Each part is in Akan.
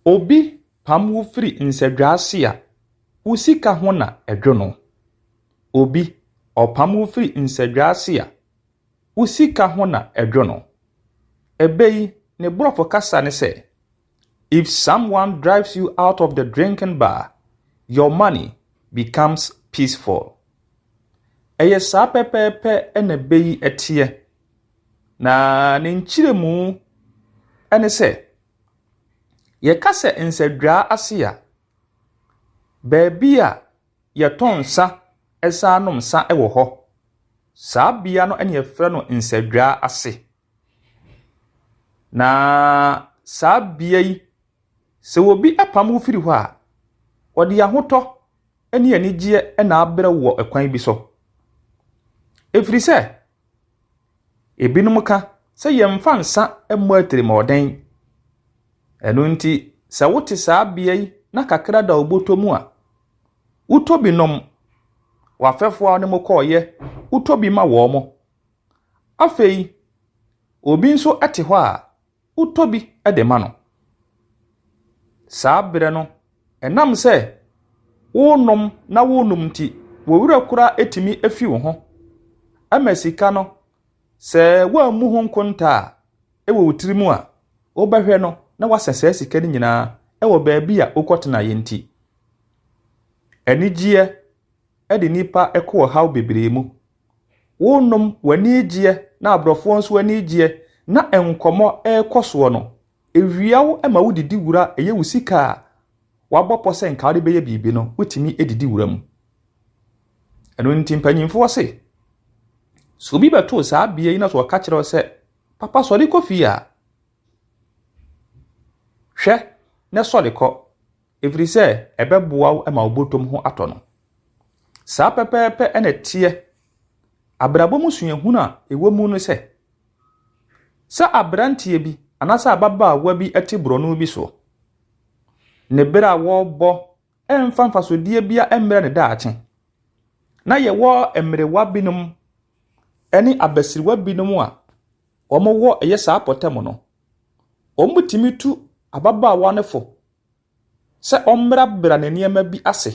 Obi pam wo firi nsadwa ase a, wo sika ho na ɛdwo no. Obi ɔpam wo firi nsadwa ase a, wo sika ho na ɛdwo no. Ɛbɛ yi ne borɔfo kasa ne sɛ, If someone drives you out of the drinking bar, your money becomes peaceful. Ɛyɛ saa pɛpɛɛpɛ na ɛbɛ yi teɛ. Na ne nkyerɛmu ne sɛ, Yɛka sɛ nsadwa ase a, baabi a yɛtɔ nsa san nom nsa wɔ hɔ. Saa bea no na yɛfrɛ no nsadwa ase. Na saa bea yi, sɛ obi apam wo firi hɔ a, ɔde ahotɔ ne anigyeɛ na abrɛ wo wɔ kwan bi so. Ɛfiri sɛ. Ebinom ka sɛ yɛmfa nsa mmɔ atirimɔden. Ɛno nti, sɛ wote saa bea yi na kakra da wo bɔtɔ mu a, wotɔ bi nom. W'afɛfoɔ a wo ne mo kɔeɛ, wotɔ bi ma wɔn. Afei, obi nso te hɔ a, wotɔ bi de ma no. Saa berɛ no, ɛnam sɛ wonom na wonom nti, wo werɛ koraa tumi fi wo ho ma sika no. Sɛ woammu ho nkonta a, wɔ wo tirim a, wobɛhwɛ no na woasɛ saa sika no nyinaa wɔ baabi a wokɔtenaeɛ nti. Anigyeɛ de nnipa kɔ ɔhaw bebree mu wonom w'ani gyeɛ na aborɔfoɔ nso ani gyeɛ na nkɔmmɔ rekɔ soɔ no, ɛwia wo ma wodidi wura a ɛyɛ wo sika a wabɔ pɔ sɛ nka wode bɛyɛ biribi no, wotumi didi wura mu. Ɛno nti mpanyimfoɔ se, sɛ obi bɛtoo saa bea yi na sɛ ɔka kyerɛ sɛ, papa sɔre kɔ fie a, hwɛ na sɔre kɔ, Ɛfiri sɛ ɛbɛboa wo ma wo bɔtɔm ho atɔ no. Saa pɛpɛɛpɛ na ɛteɛ. Abrabɔ mu suahunu a ɛwɔ mu ne sɛ, sɛ aberanteɛ bi anaasɛ ababaawa bi te borɔno bi soɔ, ne berɛ a wɔrebɔ ɛmfa mfasodeɛ bia ɛmmerɛ ne daakye. Na yɛwɔ mmerewa binom ne abasiriwa binom a wɔwɔ ɛyɛ saa pɔtɛm no, wɔtumi tu ababaawa no fo sɛ ɔmmerabera ne nneɛma bi ase.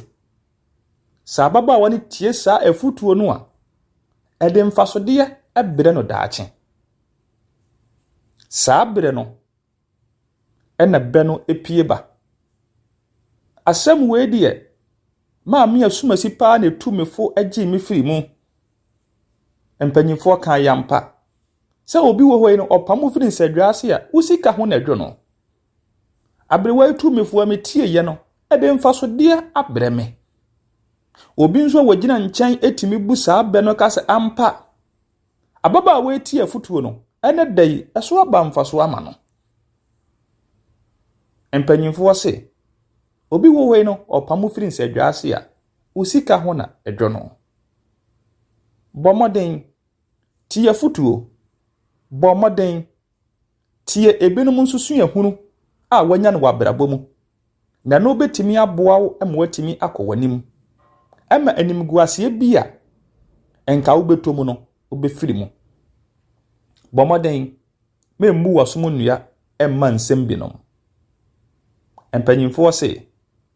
Sɛ ababaawa no tie saa afotuo no a, ɛde mfasodeɛ brɛ no daakye. Saa berɛ no na bɛ no pue ba. Asɛm wei deɛ, Maame Asumasi paa na ɛtu me fo gyee me firii mu. Mpanimfoɔ kaa yɛ ampa sɛ obi wɔ hɔ yi no, ɔpam wo firi nsadwa ase a, wo sika ho na ɛdwo no. Aberewa yi tumifo a metieeɛ no de mfasodeɛ abrɛ me. Obi nso a ɔgyina nkyɛn tumi bu saa bɛ no ka sɛ, Ampa, ababaawa yi tie afotuo no, ɛnɛ da yi, ɛso aba mfasoɔ ama no. Mpanimfoɔ se, obi wɔ hɔ yi no, ɔpam wo firi nsadwa ase a, wo sika ho na ɛdwo no. Bɔ mmɔden, tie afotuo, bɔ mmɔden. Tie ebinom nso suahunu a wɔanya no wɔ abrabɔ mu, na ɛno bɛtumi aboa wo ma woatumi akɔ w'anim. Ɛma animguaseɛ bi a nka wobɛtɔ mu no, wobɛfiri mu. Bɔ mmɔden ma mmu w'asom nnua mma nsɛm binom. Mpanimfoɔ se,